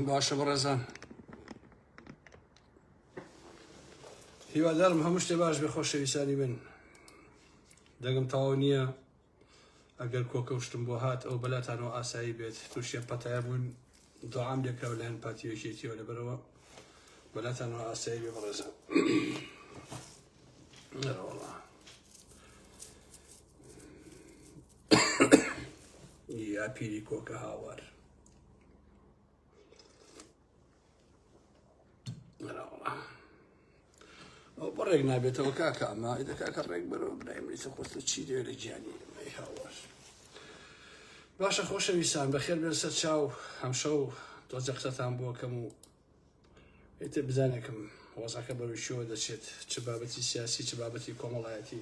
باشە بەڕێزان هیوادارم هەموو شتێ باش بێ خۆشەویستانی من دەگم تەواو نییە ئەگەر کۆکەشتم بۆ هات ئەو بەلاتانەوە ئاسایی بێت تووشیە پەتای بوون دوعام لێکرا لە هەن پاتیوێکێتیەوە لەبەرەوە بەلاتانەوە ئاسایی بێ بەڕێزان یا پیری کۆکە هاوار ئەو بەڕێک نابێتەوە کاکە ئەمە دەکاکە ڕێک بەرەوە برای منیسە خۆستە چی دێ لە گیانی ئەمەی هاوار باشە خۆشەویستان بەخێر بێن سەر چاو هەمشە و تۆزە قسەتان بۆکەم و ئێتێ بزانێکم وەزەکە بەروشیەوە دەچێت چ بابەتی سیاسی چ بابەتی کۆمەڵایەتی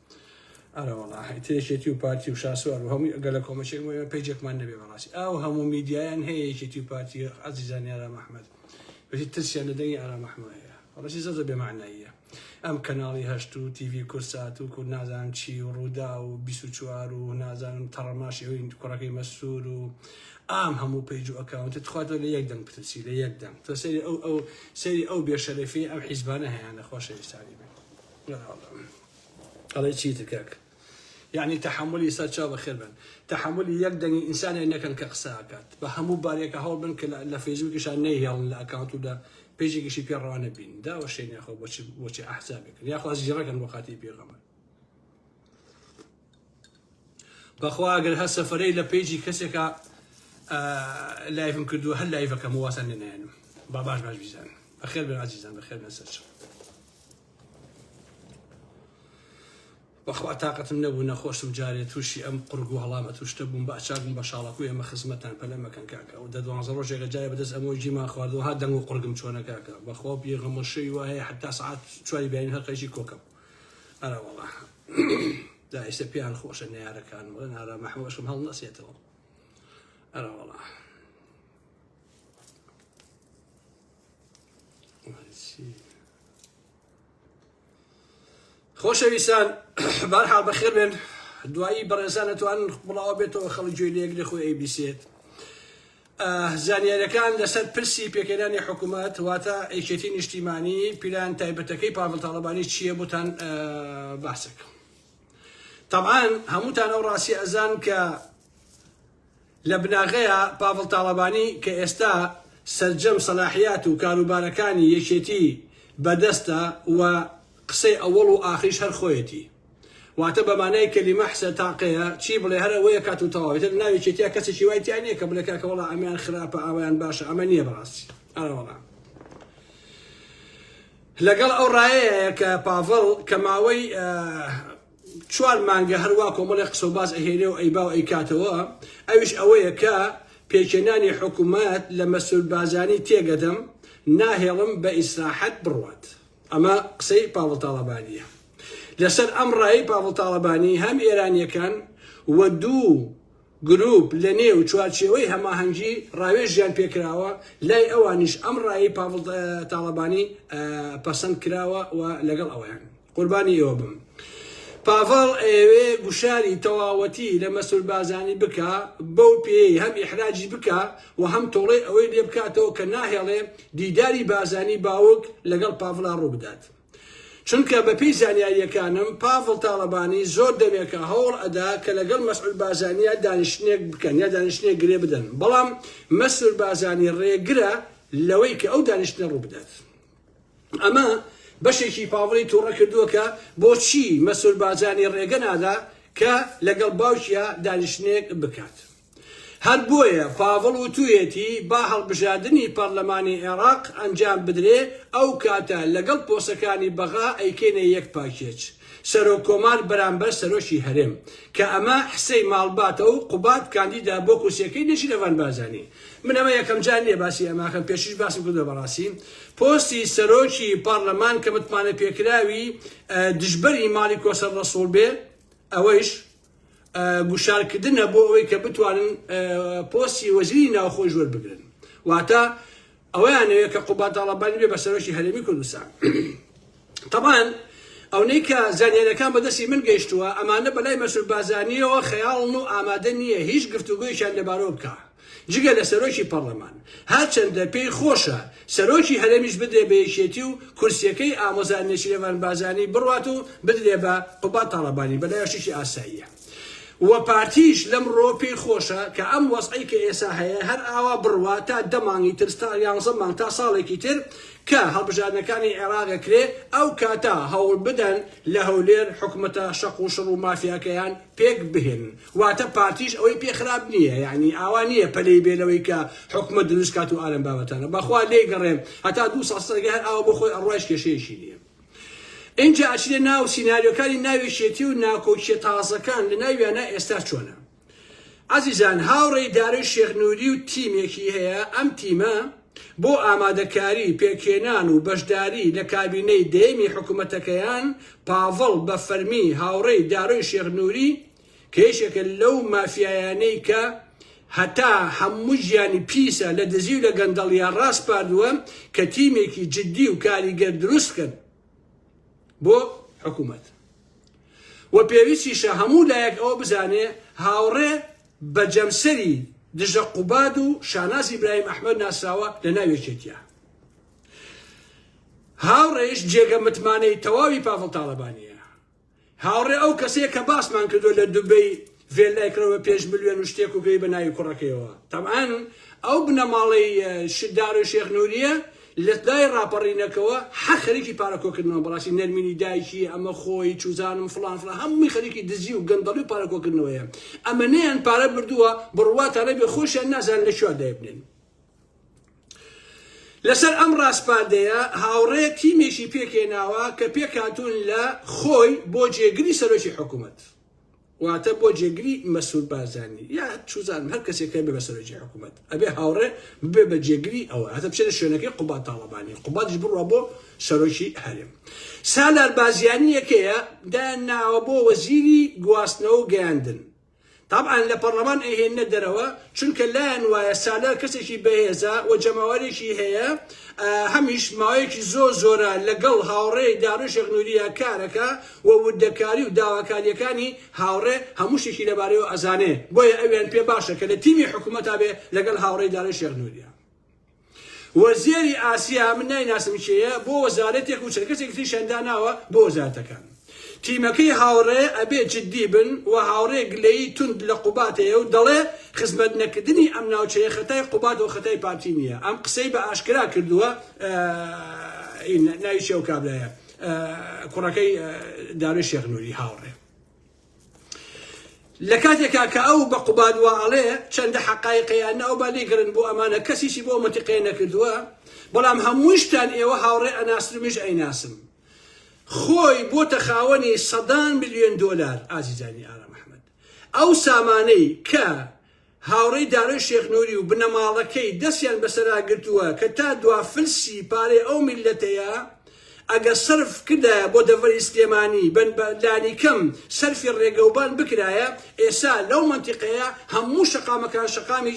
ئەرەوەڵا هەیتێشێتی و پارتی و شاسوار و هەمووی ئەگە لە کۆمەچێک مە پێجێکمان نەبێ بەڕاستی ئاو هەموو میدیایان هەیە یەکێتی و پارتی عزیزان یارا مححمد بەی ترسیان لە دەنگی ئارا مححمد هەیە ڕسی زەزە بێماناییە ئەم کەناڵی هەشت و تیV کورسات و کورد نازان چی و ڕوودا و 24وار و نازانم تەڕەماشی ئەوین کوڕەکەی مەسوور و ئام هەموو پەیج و ئەکاونتە تخواتۆ لە یەک دەنگ پرسی لە یەک دەنگ تۆ سەری ئەو ئەو سەری ئەو بێشەرەفی ئەم حیزبانە هەیەە خۆشەویستانی بێت ئەڵێی چیتر کاک یەعنی تەحەمولی سەر چاو بەخێر بێن تەحەمولی یەک دەنگی ئینسانێک نەکەن کە قسە ئەکات بە هەموو بارێکە هەوڵ بن کە لە فەیسبووکیشان نەیهێڵن لە ئەکاونت و لە پێجێکیشی پێ ڕەوا نەبین داوەشێن یاخۆ بۆچی بۆچی ئەحزابێکن یاخوا زیڕەکەن بۆ خاتری پێغەمبەر بەخوا ئەگەر هەر سەفرەی لە پێیجی کەسێکە لایفم کردو هەر لایفەکەم واسان لێنایەنم با باش باش بیزان بەخێر بن عزیزان بەخێر بن سەرچم بەخوا تاقەتم نەبوو نەخۆشم جارێ تووشی ئەم قڕگو هەڵامەت و شتە بووم بە ئەچاک بووم بە شاڵەکوی ئێمە خزمەتتان پەلە مەکەن کاکە ئەو دە دوانزە ڕۆژێکە جارێ بەدەست ئەمۆی جیمان خوارد وەها دەنگ و قڕگم چۆنە کاکە بەخوا و پێغەمبەر شەوی وا هەیە حەتتا سەعات چواری بەیانی هەر قەیچی کۆکەم ئەرە وەڵا دا ئێستا پێیان خۆشە نەیارەکانم بڵێن ئارا مەحموو ئەشم هەڵنەسێتەوە ئەرە وەڵا خۆشەویستان بارها بەخێر بێن دوایی بەڕێزان ئەتوان بڵاوە بێتەوە خەڵک گوێ لەیەک لە خۆی ئەیبیسێت زانیارەکان لەسەر پرسی پێکەێنانی حکوومەت واتە ئەیکێتی نیشتیمانی پیلان تایبەتەکەی پاڤل تاڵبانی چییە بۆتان باسەکەم طبعاان هەمووتان ئەو ڕاستی ئەزان کە لە بناغەیا پاڤڵ تاڵەبانی کە ئێستا سەرجەم سەلاحیات و کاروبارەکانی یەکێتی بە دەستە و قسەی ئەوەڵ و ئاخریش هەر خۆیەتی واتە بە مانای کەلیمە حسە تاقەیە چی بڵێ هەر ئەوەی ئەکات و تەواو ئیتر لەناو یەکێتیا کەسێکی وای تیا نیە کە بڵێ کاکە وەڵا ئەمەیان خراپە ئاوایان باشە ئەمە نیە بەڕاستی ئەرەوەڵا لەگەڵ ئەو ڕایەیە کە پاڤڵ کە ماوەی چوار مانگە هەروا کۆمەڵێک قسە و باس ئەهێنێ و ئەیبا و ئەیکاتەوە، ئەویش ئەوەیە کە پێکهێنانی حکومەت لە مەسرور بارزانی تێگەدەم، ناهێڵم بە ئیسراحەت بڕوات. ئەمە قسەی پاڤڵ تاڵەبانییە. لەسەر ئەم ڕایەی پاڤڵ تاڵەبانی هەم ئێرانییەکان و دوو، گروپ لە نێو چوارچێوەی هەماهەنگی ڕاوێژیان پێکراوە، لای ئەوانیش ئەم ڕایەی پاڤڵ تاڵەبانی پەسەند کراوە و لەگەڵ ئەوەیان. قوربانی ئێوە بم. پاڤڵ ئەیەوێ گوشاری تەواوەتی لە مەسرور بارزانی بکا، بەو پێیەی هەم ئیحراجی بکا و هەم تۆڵەی ئەوەی لێ بکاتەوە کە ناهێڵێ دیداری بارزانی باوک لەگەڵ پاڤڵا ڕوو بدات. چونکە بەپێی زانیارییەکانم پاڤڵ تاڵەبانی زۆر دەمێکە هەوڵ ئەدا کە لەگەڵ مەسعود بازانی یا دانیشتنێک بکەن یا دانیشتنێک گرێ بدەن بەڵام مەسرور بازانی ڕێگرە لەوەی کە ئەو دانیشتنە ڕوو بدات ئەمە بەشێکی پاڤڵی تووڕە کردووە کە بۆچی مەسرور بازانی ڕێگە نادا کە لەگەڵ باوکیا دانیشتنێک بکات. هەر بۆیە پاڤڵ وتوویەتی با هەڵبژاردنی پەڕلەمانی عێڕاق ئەنجام بدرێ ئەو کاتە لەگەڵ پۆستەکانی بەغا ئەیکەینە یەک پاکێج سەرۆک کۆمار بەرامبەر سەرۆکی هەرێم کە ئەمە حسەی ماڵباتە و قوباد کاندیدە بۆ کورسیەکەی نێچیرەڤان بارزانی من ئەمە یەکەم جار نیە باسی ئەمە ئەکەم پێشتریش باسم کردوە بەڕاستی پۆستی سەرۆکی پەڕلەمان کە متمانەپێکراوی دژبەری ماڵی کۆسەر ڕەسوڵ بێ ئەوەیش گوشارکردنە بۆ ئەوەی کە بتوانن پۆستی وەزیری ناوخۆی ژۆر بگرن واتە ئەوەیانەوێت کە قوباد تاڵەبانی بێ بە سەرۆکی هەرێمی کوردستان طبعاً ئەونەی کە زانیارەکان بەدەستی من گەیشتووە ئەمانە بەلای مەسول بازانیەوە خەیاڵن و ئامادە نییە هیچ گفتوگویشان لەبارەوە بکە جگە لە سەرۆکی پەڕلەمان، هەرچەندە پێی خۆشە سەرۆکی هەرێمیش بدرێ بە یەکێتی و کورسیەکەی ئامۆزا نێچیرەڤان بارزانی بڕوات و بدرێ بە قوباد تاڵەبانی بەلایەوە شتێکی ئاساییە و پارتیش لەمڕۆ پێی خۆشە کە ئەم وەزعەی کە ئێسا هەیە هەر ئاوا بڕوات تا دە مانگی تر تا یانزە مانگ تا ساڵێکی تر کە هەڵبژاردنەکانی عێراق ئەکرێ ئەو کاتە هەوڵبدەن لە هەولێر حکومەتە شەق و شڕ و مافیاکەیان پێک بهێنن واتە پارتیش ئەوەی پێ خراپ نییە یانی ئاوا نییە پەلەی بێ لەوەی کە حکومەت دروست کات و ئالەم بابەتانە بەخوا لێی گەڕێم هەتا دوو ساڵ سەرگە هەر ئاوا بۆ خۆی ئەڕوایش کێشەیەکی نییە ئینجا ئەچێ ناو سیناریۆکانی ناوێشێتی و ناکۆکیە تازەکان لە ناویانە ئێستا چۆنە ئازیزان هاوڕێی دارۆی شێخ نوری و تیمێکی هەیە ئەم تیمە بۆ ئامادەکاری پێکهێنان و بەشداری لە کابینەی دەیەمی حکومەتەکەیان، پاڤڵ بە فەرمی هاوڕێی دارۆی شێخ نوری کە یەکێکە لەو مافیایانەی کە هەتا هەموو ژیانی پیسە لە دزی و لە گەندەڵیە ڕاسپاردووە کە تیمێکی جدی و کاریگەر دروست بکەن بۆ حکومەت. وە پێویستیشە هەموو لایەک ئەوە بزانێ هاوڕێ بە جەمسەری دژە قوباد و شاناز ئیبراهیم ئەحمەد ناسراوە لە ناو یەکێتیە هاوڕێش جێگە متمانەی تەواوی پاڤڵ تاڵەبانیە هاوڕێ ئەو کەسەیە کە باسمان کردو لە دوبەی ڤێلای کڕەوە پێش ملیۆن و شتێک و پێی بە ناوی کوڕەکەیەوە تەمان ئەو بنەماڵەی شدار و شێخ نوریە لەدای ڕاپەڕینەکەوە هەر خەریکی پارە کۆکردنەوەن بەڕاستی نەرمینی دایکی ئەمە خۆی چوزانم فڵان فڵان هەمووی خەریکی دزی و گەندەڵی و پارە کۆکردنەوەیە ئەمەنەیان پارە بردووە بڕواتانەبێ خۆشیان نازانن لەکوێ دایبنێن لەسەر ئەم ڕاسپاردەیە هاوڕێ تیمێکی پێکهێناوە کە پێکهاتوون لە خۆی بۆ جێگری سەرۆکی حکومەت واتە بۆ جێگری مەسرور بارزانی یا چوزانم هەر کەسێک هەبێ بە سەرۆکی حکومەت ئەبێ هاوڕێ ببێ بە جێگری ئەوە هەتا بچێتە شوێنەکەی قوباد تاڵەبانی قوبادیش بڕوا بۆ سەرۆکی هەرێم سالار بازیانی یەکەیە دایان ناوە بۆ وەزیری گواستنەوە و گەیاندن طبعا لە پەرلەمان ئەیهێنە دەرەوە چونکە لایەن وایە سالار کەسێکی بەهێزە و جەماوەرێکی هەیە هەمیش ماوەیەکی زۆر زۆرە لەگەڵ هاوڕێی داروشێک نوریە کارەکە و وردەکاری و داواکاریەکانی هاوڕێ هەموو شتێکی لەبارەیەوە ئەزانێ بۆیە ئەویان پێ باشە کە لە تیمی حکومەتا بێ لەگەڵ هاوڕێی دارێ شێخ نوریا. وەزێری ئاسیا من نایناسم کێیە بۆ وەزارەتێک و چەند کەسێکی تریشیان داناوە بۆ وەزارەتەکان تیمەکەی هاوڕێ ئەبێ جدی بن و هاوڕێ گلەیی توند لە قوبات هەیە و دەڵێ خزمەت نەکردنی ئەم ناوچەیە خەتای قوبات و خەتای پارتی نییە ئەم قسەی بە ئاشکرا کردووە ناوی چیە ئەو کابرایە کوڕەکەی دارۆی شێخ نوری هاوڕێ لە کاتێکا کە ئەو بە قوباد وا ئەڵێ چەندە حقایقەیان ناو بە لێگرن بۆ ئەمانە کەسیشی بۆ مەتیقێ نەکردووە بەڵام هەمووشتان ئێوە هاوڕێ ئەناسرمیش ئەیناسم خۆی بۆ تەخاوەنی سەدان میلیۆن دۆلار ئازیزانی ئارام ئەحمد ئەو سامانەی کە هاوڕێی دارۆی شێخ نوری و بنەماڵەکەی دەستیان بەسەرا گرتووە کە تا دوا فلسی پارەی ئەو میللەتەیە ئەگەر سەرف کردایە بۆ دەڤەری سلێمانی بە لانیکەم سەرفی ڕێگەوبان بکرایە ئێسا لەو مەنتیقەیە هەموو شەقامەکان شەقامی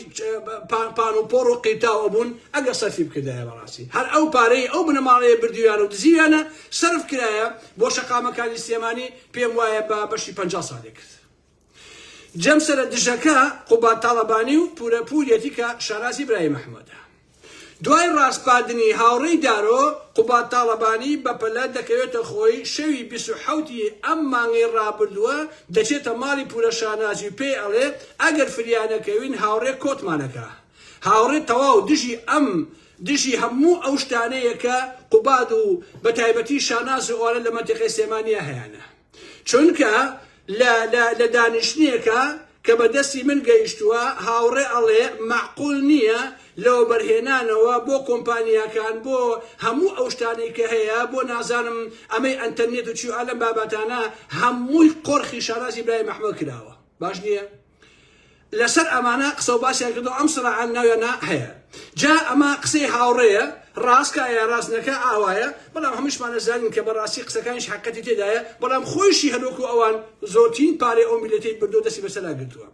پان و پۆڕ و قیرتاو ئەبوون ئەگەر سەرفی بکردایە بەڕاستی هەر ئەو پارەی ئەو بنەماڵەیە بردویان و دزیویانە سەرف کرایە بۆ شەقامەکانی سلێمانی پێم وایە بە بەشی پەنجا ساڵێ کرد جەمسەرە دژەکە قوباد تاڵەبانی و پورە پوریەتی کە شانازی برای محمودە. دوای ڕاسپاردنی هاوڕێی دارۆ، قوباد تاڵەبانی بەپەلە دەکەوێتە خۆی، شەوی بیست و حەوت ی ئەم مانگەی ڕابردووە دەچێتە ماڵی پورە شانازی و پێی ئەڵێ ئەگەر فریا نەکەوین هاوڕێ کۆتمان ئەکا. هاوڕێ تەواو دژی ئەم دژی هەموو ئەو شتانەیە کە قوباد و بەتایبەتی شاناز و ئەوانە لە مەنتیقەی سلێمانیا هەیانە. چونکە لە لە لە دانیشتنێکە کە بە دەستی من گەیشتووە هاوڕێ ئەڵێ مەعقول نییە لە وەبەرهێنانەوە بۆ کۆمپانیاکان بۆ هەموو ئەو شتانەی کە هەیە بۆ نازانم ئەمەی ئەنتەرنێت و چی و ئا لەم بابەتانە هەمووی قۆرخی شانازی برای مەحمەد کراوە باش نییە؟ لەسەر ئەمانە قسە و باسیان کردەوە ئەم سراعان ناویانە هەیە جا ئەمە قسەی هاوڕێیە ڕاستکایە ڕاستنەکە ئاوایە بەڵام هەمشمان نەزانین کە بەڕاستی قسەکانش حقەتی تێدایە بەڵام خۆشی هەروەکو ئەوان زۆرترین پارەی ئەو میلەتەی بردو دەستی بەسەلا گرتووە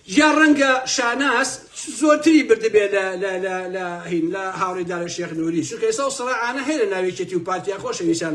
یا ڕەنگە شاناس زۆرتری بردبێ لە هاوڕێدارە شێخ نووری شکەسە و سڕعاانە هەیە لە ناوێکێتی و پارتیا خۆشەویسان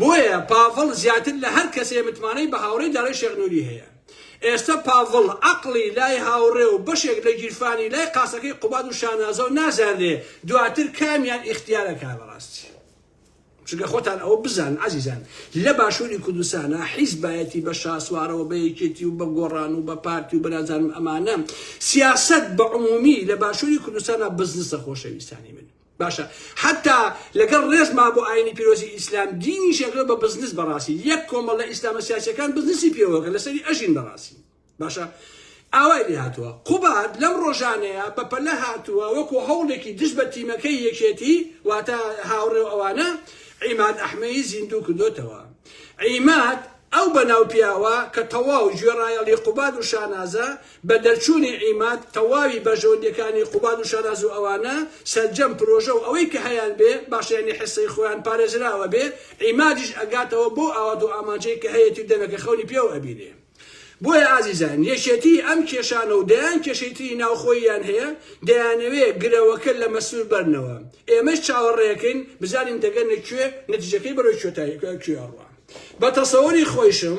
بۆیە پاڤڵ زیاتر لە هەر کەسێ متمانەی بە هاوڕێی دارای شێخ نوری هەیە. ئێستە پاڤڵ عەقڵی لای هاوڕێ و بەشێک لە گیرفانی لای قاسەکەی قوباد و شانازەو نازانرێ دواتر کامیان ئیختیار ئەکا بەڕاستی. چونکە خۆتان ئەوە بزانن عەزیزان لە باشوری کوردستانا حیزبایەتی بە شاسوارەوە بە یەکێتی و بە گۆڕان و بە پارتی و بە نازانم ئەمانە سیاسەت بە عمومی لە باشوری کوردستانا بزنسە خۆشەویستانی من. باشە حەتا لەگەڵ ڕێزما بۆ ئاینی پیرۆزی ئیسلام دینی شەکرە بە بزنس بەڕاستی یەک کۆمەڵ لە ئیسلامە سیاسەکان بزنسی پێوەکە لەسەری ئەژین بەڕاستی باشە ئاوای لێ هاتووە قوباد لەم ڕۆژانەیە بە پەلە هاتووە وەکو هەوڵێکی دژ بە تیمەکەی یەکێتی واتە هاوڕێ و ئەوانە عیماد ئەحمەی زیندوو کردوتەوە عیماد ئەو بەناو پیاوە کە تەواو گوێڕایەڵی قوباد و شانازە بە دەرچوونی عیماد تەواوی بەرژەوەندییەکانی قوباد و شەراز و ئەوانە سەرجەم پرۆژە و ئەوەی کە هەیان بێ باشە یانی حیسەی خۆیان پارێزراوە بێ عیمادیش ئەگاتەوە بەو ئاوات و ئامانجەی کە هەیەتی و دەمێکە خەونی پێوە ئەبینێ بۆیە ئازیزان یەکێتیی ئەم کێشانە و دەیان کێشەی تری ناوخۆییان هەیە دەیانەوێ گرەوەکە لە مەسرور بەرنەوە ئێمەش چاوەڕێکەین بزانین دەگەنە کوێ نەتیجەکەی بەرەو کوێ ئەڕوا بە تەسەوری خۆیشم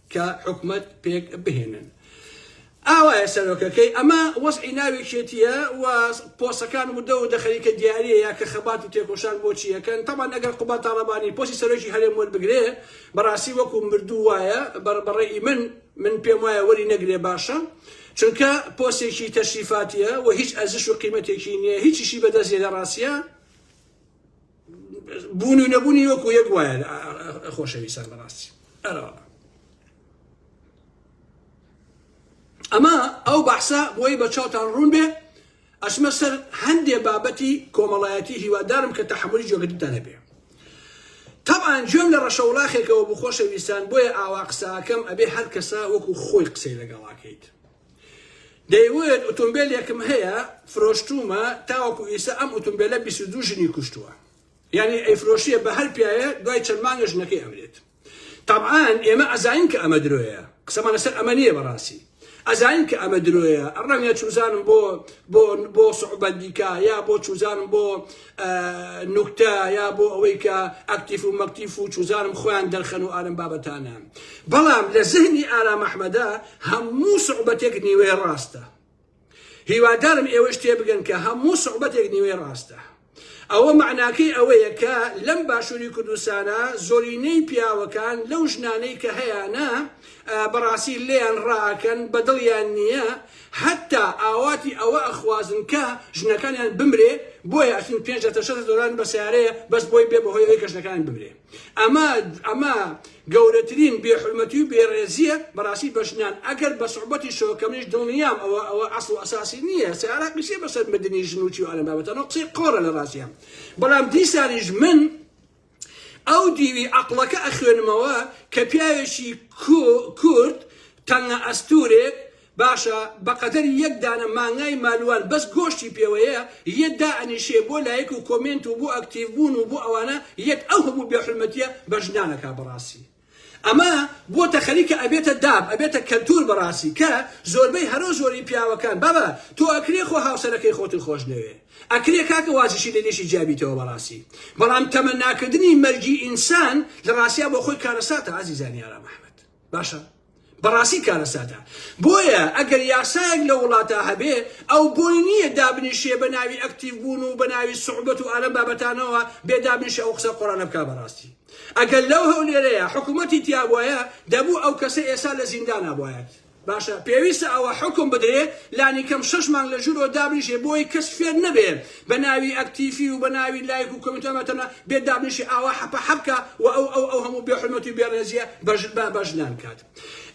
کە حکومەت پێک بهێنن. ئاوایە سەرۆکەکەی ئەمە وەزعی ناوێکێتیە و پۆسەکان ودە ودە خەریکە دیاریەیە کە خەبات و تێکۆشان بۆ چی ئەکەن تەبان ئەگەر قوباد تاڵەبانی پۆسی سەرۆکی هەرێم وەربگرێ بەڕاستی وەکو مردوو وایە بەڕ بەڕەئی من من پێم وایە وەری نەگرێ باشە چونکە پۆسێکی تەشریفاتیە و هیچ ئەرزش و قیمەتێکی نیە هیچیشی بەدەست نیە لە ڕاستیا بوون و نەبوونی وەکو یەک وایە خۆشەویستان بەڕاستی ئەرەوە ئەمە ئەو بەحسە بۆی بە چاوتان ڕوون بێ ئەسمە سەر هەندێ بابەتی کۆمەڵایەتی هیوادارم کە تەحملی جۆگەتتان هەبێ تەبان جۆم لە ڕەشە وڵاخێکەوە بخۆشەویستان بۆیە ئاوا قساکەم ئەبێ هەر کەسە وەکو خۆی قسەی لەگەڵاکەیت دەیوت ئوتومبێلێکم هەیە فرۆشتومە تاوەکو ئیسە ئەم ئوتومبێلە بیست و دوو ژنی کوشتووە یانی ئەیفرۆشیە بە هەر پیاوێ دوای چەند مانگە ژنەکەی ئەمرێت تەبعان ئێمە ئەزانین کە ئەمە درۆیە قسەمان لەسەر ئەمە نییە بەڕاستی ئەزانین کە ئەمە درۆیە ڕەنگە چوزانم بۆ بۆ بۆ سعوبەت دیکە یا بۆ چوزانم بۆ نوکتە یا بۆ ئەوەی کە ئەکتیف و مەکتیف و چوزانم خۆیان دەرخەن و ئالەم بابەتانە بەڵام لە زهنی ئارام ئەحمەدا هەموو سوعبەتێک نیوەی ڕاستە هیوادارم ئێوەش تێبگەن کە هەموو سوعبەتێک نیوەی ڕاستە ئەوە معناکەی ئەوەیە کە لەم باشووری کوردستانە زۆرینەی پیاوەکان لەو ژنانەی کە هەیانە بەڕاستی لێیان ڕاکەن بەدڵیان نییە هەتا ئاواتی ئەوە ئەخوازن کە ژنەکانیان بمرێ بۆیە ئەچن پێنج دە تەشەتە دۆلارن بە سەیارەیە بەس بۆی بێ بەهۆی ئەوەی کە ژنەکانیان بمرێ ئەمە ئەمە گەورەترین بێ حورمەتی و بێ ڕێزیە بەڕاستی بە ژنان ئەگەر بە سوعبەتی شەوە کە منیش دڵنیام ئەوە ئەوە ئەسڵ و ئەساسی نییە سەیارە قیسێ بەسەر مردنی ژن و چی و ئەلەم بابەتانە قسەی قۆڕە لە ڕاستیان بەڵام دیسانیش من ئەو دیوی عەقڵەکە ئەخوێنمەوە کە پیاوێکی کورد تەنگە ئەستورێک باشە بەقەدەر یەک دانە مانگای مالوان بەس گۆشتی پێوەیە یە دائەنیشێ بۆ لایک و کۆمێنت و بۆ ئەکتیڤ بوون و بۆ ئەوانە یەت ئەو هەموو بێ حورمەتیە بە ژنان ئەکا بەڕاستی ئەمە بۆتە خەریکە ئەبێتە داب ئەبێتە کەلتور بەڕاستی کە زۆربەی هەرۆ زۆری پیاوەکان بابە تۆ ئەکرێ خۆ هاوسەرەکەی خۆتن خۆشنەوێ ئەکرێ کاکە واجشی لە لێشی جیابیتەوە بەڕاستی بەڵام تەمەناکردنی مەرگی ئینسان لە ڕاستیا بۆخۆی کارەساتە ئازیزانی ئارام ئەحمەد باشە بەڕاستی کارەساتە بۆیە ئەگەر یاسایەک لە وڵاتا هەبێ ئەو بۆی نییە دابنیشێ بە ناوی ئەکتیڤ بوون و بە ناوی سوعبەت و ئالەم بابەتانەوە بێ دابنیشێ ئەو قسە قۆرانە بکا بەڕاستی ئەگەر لەو هەولێرەیە حکومەتی تیابوایە دەبوو ئەو کەسە ئێسا لە زیندانا بوایەت باشە پێویستە ئەوە حکم بدرێ لانی کەم شەش مانگ لە ژورەوە دابنیشێ بۆی کەس فێر نەبێ بە ناوی ئەکتیفی و بە ناوی لایک و کۆمینت و ئەمە تەنها بێت دابنیشێ ئاوا حەپە حەپ کا و ئەو ئەو ئەو هەموو بێ حورمەتی و بێ ڕێزیە بە ژن بە ژنان کات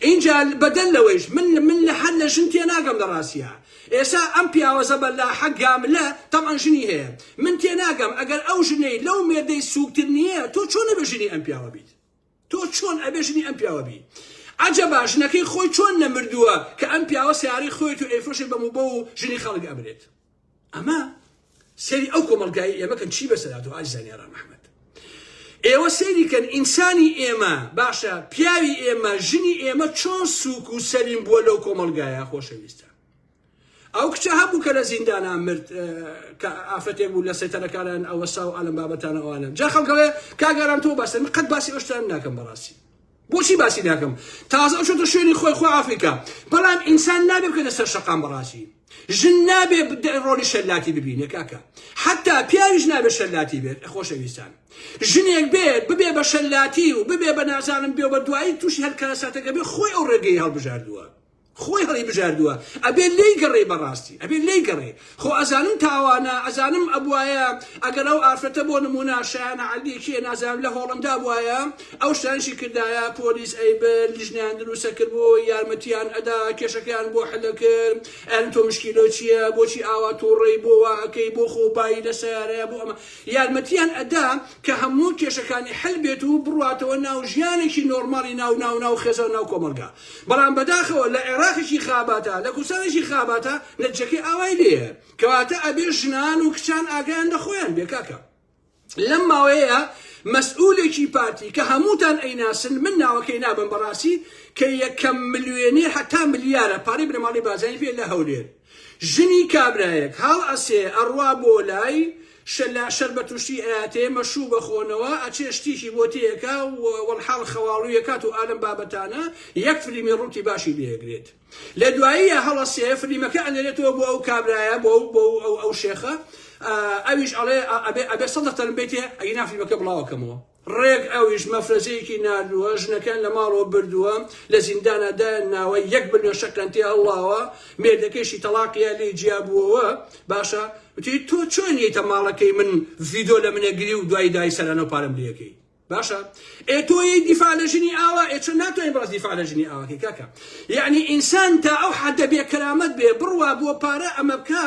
ئینجا بە دەل لەوەیش من من لە هەر لە ژن تێ ناگەم لە ڕاستیا ئێسا ئەم پیاوە زە بە لاحە گاملە تەبعەن ژنی هەیە من تێ ناگەم ئەگەر ئەو ژنەی لەو مێردەی سووک تر نیە تۆ چۆن ئەبێ ژنی ئەم پیاوە بیت تۆ چۆن ئەبێ ژنی ئەم پیاوە بی عەجەبا ژنەکەی خۆی چۆن نەمردووە کە ئەم پیاوە سیارەی خۆیت و ئەیفرۆشێ بە موبە و ژنی خەڵک ئەمرێت ئەمە سەری ئەو کۆمەڵگای ئێمەکەن چی بەسەرات و ئازیزانی ڕام ئەحمەد ئێوە سەیری کەن ئینسانی ئێمە باشە پیاوی ئێمە ژنی ئێمە چۆن سووک و سەلیم بووە لەو کۆمەڵگایە خۆشەویستە ئەو کچە هەبوو کە لە زیندانا مرد کە ئافرەتێک بوو لە سەیتەرەکانان ئەوەسا و ئالم بابەتانە ئەوانە جا خەڵکەوەێ کاگەران تۆ باسن من قەت باسی ئەوشتان ناکەم بەڕاستی بۆچی باسی ناکەم تازە ئەو شتە شوێنی خۆی خۆ ئافریقا بەڵام ئینسان نابێ بکەنە سەر شەقام بەڕاستی ژن نابێ ڕۆلی شەلاتی ببینێ کاکە حتا پیاویش نابێ شەلاتی بێت خۆشەویستان ژنێک بێت ببێ بە شەلاتی و ببێ بە نازانم بێ بە دوایی تووشی هەر کارەساتەکە بێ خۆی ئەو ڕێگەی هەڵبژاردووە خۆی هەڵی بژاردوە ئەبێ لێی گەڕێی بەڕاستی ئەبێ لێی گەڕێی خۆ ئەزانم تاوانە ئەزانم ئەبوایە ئەگەر ئەو ئافرەتە بۆ نمونە شایانە عەلی کێ نازانم لە هۆڵندا بوایە ئەو شتانشی کردایە پۆلیس ئەیبرد لیژنەیان دروستە کرد بۆ یارمەتیان ئەدا کێشەکەیان بۆ حلە کرد ئەن تۆ مشکیلۆ چییە بۆچی ئاوا توڕەی بۆ وا ئەکەی بۆ خۆ بایی لە سیارەیە بۆ ئەمە یارمەتیان ئەدا کە هەموو کێشەکانی حل بێت و بڕواتەوە ناو ژیانێکی نۆرماڵی ناو ناو ناو خێزان ناو کۆمەڵگا بەڵام بەداخەوە لە عێراقێکی خاباتە لە کوردستانێکی خاباتە نەتجەکەی ئاوای لێیە کەواتە ئەبێ ژنان و کچان ئاگایان لە خۆیان بێ کاکە لەم ماوەیە مەسئولێکی پارتی کە هەمووتان ئەیناسن من ناوەکەی نابم بەڕاستی کە یەکەم ملیۆنێر هەتا ملیارە پارەی بنەماڵەی بازانی پێ لە هەولێر ژنی کابرایەک هەڵ ئەسێ ئەڕوا بۆ لای شەلا شەربەت و شتی ئەیاتێ مەشوو بەخۆنەوە ئەچێ شتیکی بۆ تێیەکا و وەڵحاڵ خەواڵوی ئەکات و ئالەم بابەتانە یەک فلیمی ڕووتی باشی لێ ئەگرێت لە دواییە هەڵ ئەسێ فلیمەکە ئەنێرێتەوە بۆ ئەو کابرایە بۆ ئەو بۆ ئەو ئەو شێخە ئەویش ئەڵێ ئەبێ ئەبێ سەد لە تەرم بێتێ ئەگینا فلیمەکە بڵاو ئەکەمەوە. ڕێک ئەویش مەفرەزەیەکی ناردووە ژنەکەیان لە ماڵەوە بردووە لە زیندانا دایان ناوە یەک بلوێن شەکرەن تێ هەڵڵاوە مێردەکەیشی تەڵاقیان لێی جیا بووەوە باشە وتی تۆ چۆن یەیتە ماڵەکەی من ڤیدۆ لە منە گری و دوای دای سەرانەو پارەم لێکەی باشە ئێ تۆ یەی دیفاع لە ژنی ئاوا ئێ چۆن ناتوانین باس دیفاع لە ژنی ئاواکەی کاکە یعنی ئینسان تا ئەو حەدە بێ کەرامەت بێ بڕوا بۆ پارە ئەمە بکا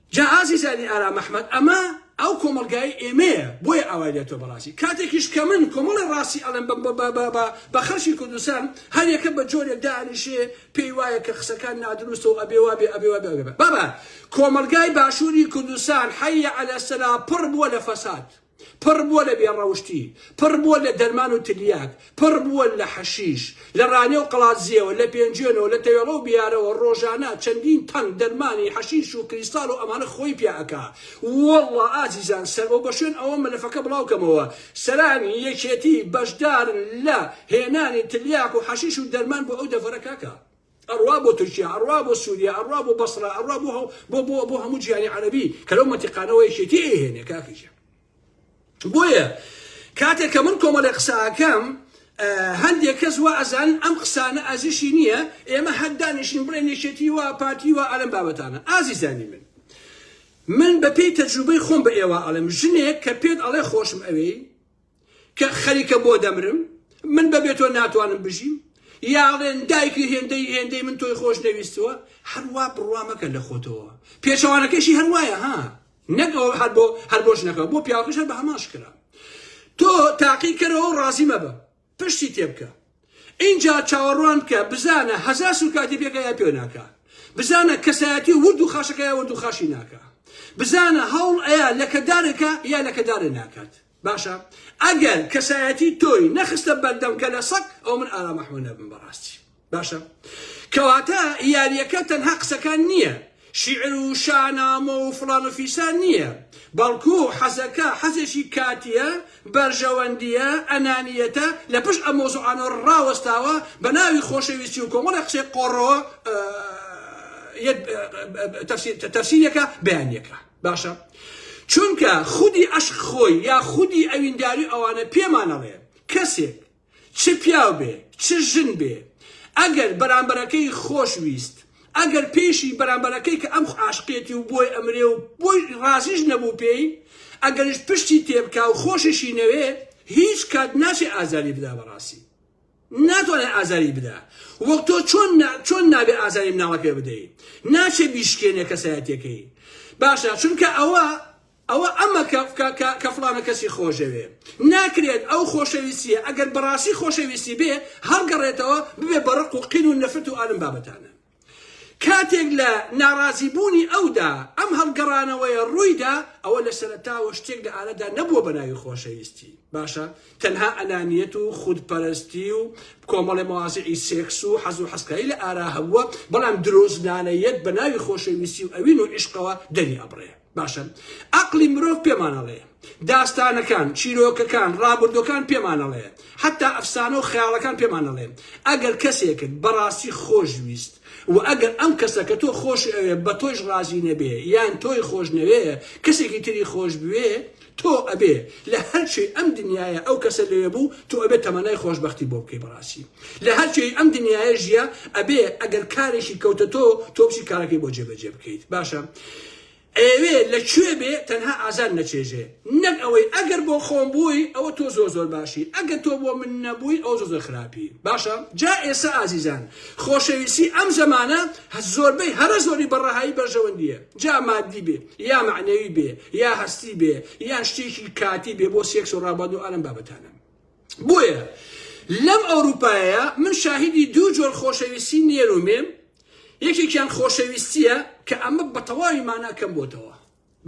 جا ئازیزانی ئارام ئەحمەد ئەمە ئەو کۆمەڵگای ئێمەیە بۆیە ئاوای لێتۆ بەڕاستی کاتێکیش کە من کۆمەڵی ڕاستی ئەڵێم بە بە بە بە بە بە خەڵکی کوردستان هەر یەکە بە جۆرێک دانیشێ پێی وایە کە قسەکان نادروستە و ئەبێ وابێ ئەبێ وابێ ئەبێ بابە کۆمەڵگای باشووری کوردستان حەیە عەلە سەلا پڕ بووە لە فەساد پڕ بووە لە بێ ڕەوشتی، پڕ بووە لە دەرمان و تلیاک، پڕ بووە لە حەشیش، لە ڕانێ و قەڵادزێوە، لە پێنجوێنەوە، لە تەوێڵە و بیارەوە ڕۆژانە چەندین تەن دەرمانی حەشیش و کریستاڵ و ئەمانە خۆی پیا ئەکا. وەڵڵا ئازیزان سەر بەو بەشوێن ئەوە مەلەفەکە بڵاو کەمەوە سەرانی یەکێتی بەشدارن لە هێنانی تلیاک و حەشیش و دەرمان بۆ ئەو دەڤەرە کاکە. ئەڕوا بۆ تورکیا ئەڕوا بۆ سوریا ئەڕوا بۆ بەسڕە ئەڕوا بۆ هەو بۆ بۆ بۆ هەموو جیهانی عەرەبی کە لەو مەنتیقانەوە یەکێتی ئەیهێنێ کاکە گیان بۆیە کاتێک کە من کۆمەڵێ قساکەم هەندێک کەس وا ئەزانن ئەم قسانە ئازیشی نییە ئێمە هەردانیشین بڵێن یەکێتی وە پارتی وە ئەلم بابەتانە ئازیزانی من من بە پێی تەجروبەی خۆم بە ئێوە ئەڵێم ژنێک کە پێت ئەڵێ خۆشم ئەوێی کە خەریکە بۆ دەمرم من بەبێ تۆ ناتوانم بژیم یاڵێن دایکی هێندەی هێندەی من تۆی خۆش نەویستووە هەروا بڕوا مەکە لە خۆتەوە پێچەوانەکەشی هەروایە ها نەگەوە هەر بۆ هەر بۆش نەکە بۆ پیاوەکەش هەر بە هەمان شکرا تۆ تاقی کەرەوە و ڕازی مەبە پشتی تێبکە اینجا چاوەڕوان بکە بزانە هەزار سوکاتی پێکە یا پێ ناکە بزانە کەسایەتی ورد و خاشەکە یا ورد و خاشی ناکە بزانە هەوڵ ئەیە لەکەدارێکە یا لەکەدارێ ناکات باشە ئەگەر کەسایەتی تۆی نەخستە بەردەم کە لە سەگ ئەو من ئارام ئەحمە نەبم بەڕاستی باشە کەواتە یاریەکە تەنها قسەکان نییە شیعر و شانامە و فڵان و فیسان نییە بەڵکو حەزەکە حەزێکی کاتیە بەرژەوەندیە ئەنانیەتە لە پشت ئە مۆزوعانۆ ڕاوەستاوە بە ناوی خۆشەویستی و کۆمەڵە قسەی قۆڕەوە تەفسیرەکە بەیانەکە باشە چونکە خودی ئەشق خۆی یا خودی ئەوینداری ئەوانە پێمان ئەڵێ کەسێک چ پیاو بێ چ ژن بێ ئەگەر بەرامبەرەکەی خۆش ویست ئەگەر پێشی بەرامبەرەکەی کە ئەم عاشقێتی و بۆی ئەمرێ و بۆی ڕازیش نەبوو پێی ئەگەرش پشتی تێبکا و خۆشیشی نەوێ هیچ کات ناچێ ئازاری بدا بەڕاستی ناتوانێ ئازاری بدا وەک تۆ چۆن چۆن نابێ ئازاری مناڵە پێ بدەی ناچێ بیشکێنێ کەسایەتەکەی باشە چونکە ئەوە ئەوە ئەمە کە فلانە کەسی خۆشەوێ ناکرێت ئەو خۆشەویستیە ئەگەر بەڕاستی خۆشەویستی بێ هەڵگەڕێتەوە ببێ بەڕق و قین و نەفرت و ئالم بابەتانە کاتێک لە ناڕازیبوونی ئەودا ئەم هەڵگەڕانەوەیە ڕوویدا، ئەوە لە سەرەتاوە شتێک لە ئارەدا نەبووە بە ناوی خۆشەویستی، باشە تەنها ئەنانیەت و خودپەرستی و کۆمەڵێ مەوازیعی سێکس و حەز و حەزکاری لە ئارا هەبووە، بەڵام درۆزنانە یەت بە ناوی خۆشەویستی و ئەوین و عیشقەوە دەری ئەبڕێ. باشە ئەقڵی مرۆڤ پێمان ئەڵێ داستانەکان، چیرۆکەکان، ڕابردووەکان پێمان ئەڵێ حەتا ئەفسانە و خەیاڵەکان پێمان ئەڵێن ئەگەر کەسێکت بەڕاستی خۆشویست و ئەگەر ئەم کەسە کە تۆ خۆشی ئەوێ بە تۆیش ڕازی نەبێ یان تۆی خۆش نەوێ کەسێکی تری خۆش بوێ تۆ ئەبێ لە هەر کوێی ئەم دنیایە ئەو کەسە لەوێ بوو تۆ ئەبێ تەمەنای خۆشبەختی بۆ بکەی بەڕاستی لە هەر کوێی ئەم دنیایە ژیە ئەبێ ئەگەر کارێکی کەوتە تۆ تۆ بچی کارەکەی بۆ جێبەجێ بکەیت باشە ئەوێ لە کوێ بێ تەنها ئازار نەچێژێ نەک ئەوەی ئەگەر بۆ خۆم بووی ئەوە تۆ زۆر زۆر باشی ئەگە تۆ بۆ من نەبووی ئەو زۆر زۆر خراپی باشە جا ئێستا ئازیزان خۆشەویستی ئەم زەمانە زۆربەی هەرە زۆری بەڕەهایی بەرژەوەندیە جا ماددی بێ یا مەعنەوی بێ یا هەستی بێ یان شتێکی کاتی بێ بۆ سێکس و ڕابواد و ئالەم بابەتانە بۆیە لەم ئەوروپایە من شاهیدی دوو جۆر خۆشەویستی نێر و مێم یەکێکیان خۆشەویستیە کە ئەمە بە تەواوی مانا کەم بۆتەوە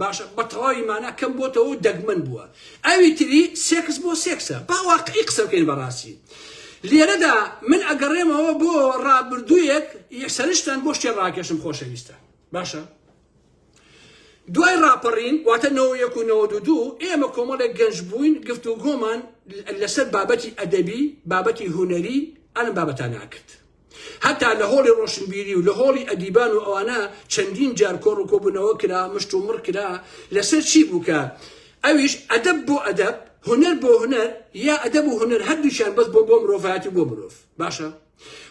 باشە بە تەواوی مانا کەم بۆتەوە و دەگمەن بووە ئەوی تری سێکس بۆ سێکسە باواقعی قسە بکەین بەڕاستی لێرەدا من ئەگەڕێمەوە بۆ ڕابردوویەک یەسەرشتان بۆ شتێ ڕاکێشم خۆشەویستە باشە دوای ڕاپەڕین واتە نەوە یەک و نەوە دوو ئێمە کۆمەڵێک گەنج بووین گفت و گۆمان لەسەر بابەتی ئەدەبی بابەتی هوەری ئەلم بابەتان ناکرد هەتا لە هۆڵی ڕۆشنبیری و لە هۆڵی ئەدیبان و ئەوانە چەندین جار کۆڕ و کۆبوونەوە کرا مشت و مڕ کرا لەسەر چی بووکە ئەویش ئەدەب بۆ ئەدەب هوەر بۆ هوەر یا ئەدەب و هوەر هەردووشان بەس بۆ بۆ مرۆڤاتی بۆ مرۆڤ باشە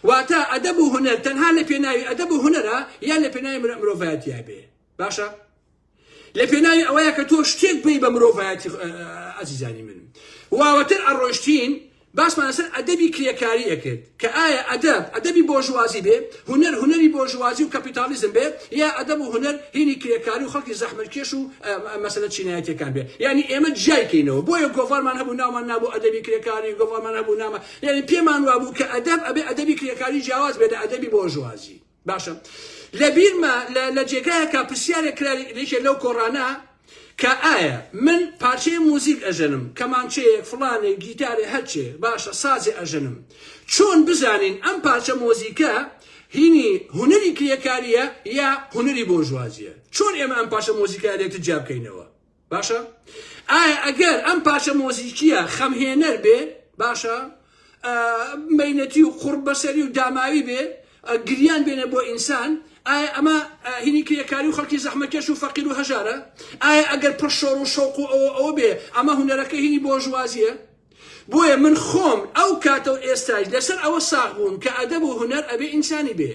واتە ئەدەب و هونەر تەنها لە پێناوی ئەدەب و هونەرە یان لە پێناوی مرۆڤایەتیا بێ باشە لە پێناوی ئەوەیە کە تۆ شتێک بی بە مرۆڤایەتی ئەزیزانی من واوەتر ئەڕۆشتین باسمان لەسەر ئەدەبی کرێکاری ئەکرد کە ئایا ئەدەب ئەدەبی بۆژوازی بێ هونەر هونەری بۆژوازی و کەپیتالیزم بێ یا ئەدەب و هونەر هینی کرێکاری و خەڵکی زەحمەتکێش و مەسەلە چینایەتەکان بێ یعنی ئێمە جیایکەینەوە بۆیە گۆڤارمان هەبوو ناومان نابوو ئەدەبی کرێکاری گۆڤارمان هەبوو نامە یانی پێمان وابوو کە ئەدەب ئەبێ ئەدەبی کرێکاری جیاواز بێ لە ئەدەبی بۆرژوازی باشە لە بیرمە لە جێگایەکە پرسیارێک کرا لێکێ لەو کۆڕانە کە ئایا من پارچەی موزیک ئەژەنم کەمانچەیەک فڵانێک گیتارێ هەرچێ باشە سازێ ئەژەنم چۆن بزانین ئەم پارچە مۆزیکە هینی هوەری کرێکاریە یا هوەری بۆژوازیە چۆن ئێمە ئەم پاشە مۆزیکە لێکتر جیابکەینەوە باشە ئایا ئەگەر ئەم پارچە مۆزیکیە خەمهێنەر بێ باشە مینەتی و قڕ بەسەری و داماوی بێ گریان بێنە بۆ ئینسان ئایا ئەمە هینی کرێکاری و خەڵکی زەحمەکەش و فەقیر و هەژارە ئایا ئەگەر پڕشۆر و شەوق و ئەوە ئەوە بێ ئەمە هوەرەکە هینی بۆژوازیە بۆیە من خۆم ئەو کاتە و ئێستایش لەسەر ئەوە ساغ بووم کە ئەدەب و هونەر ئەبێ ئینسانی بێ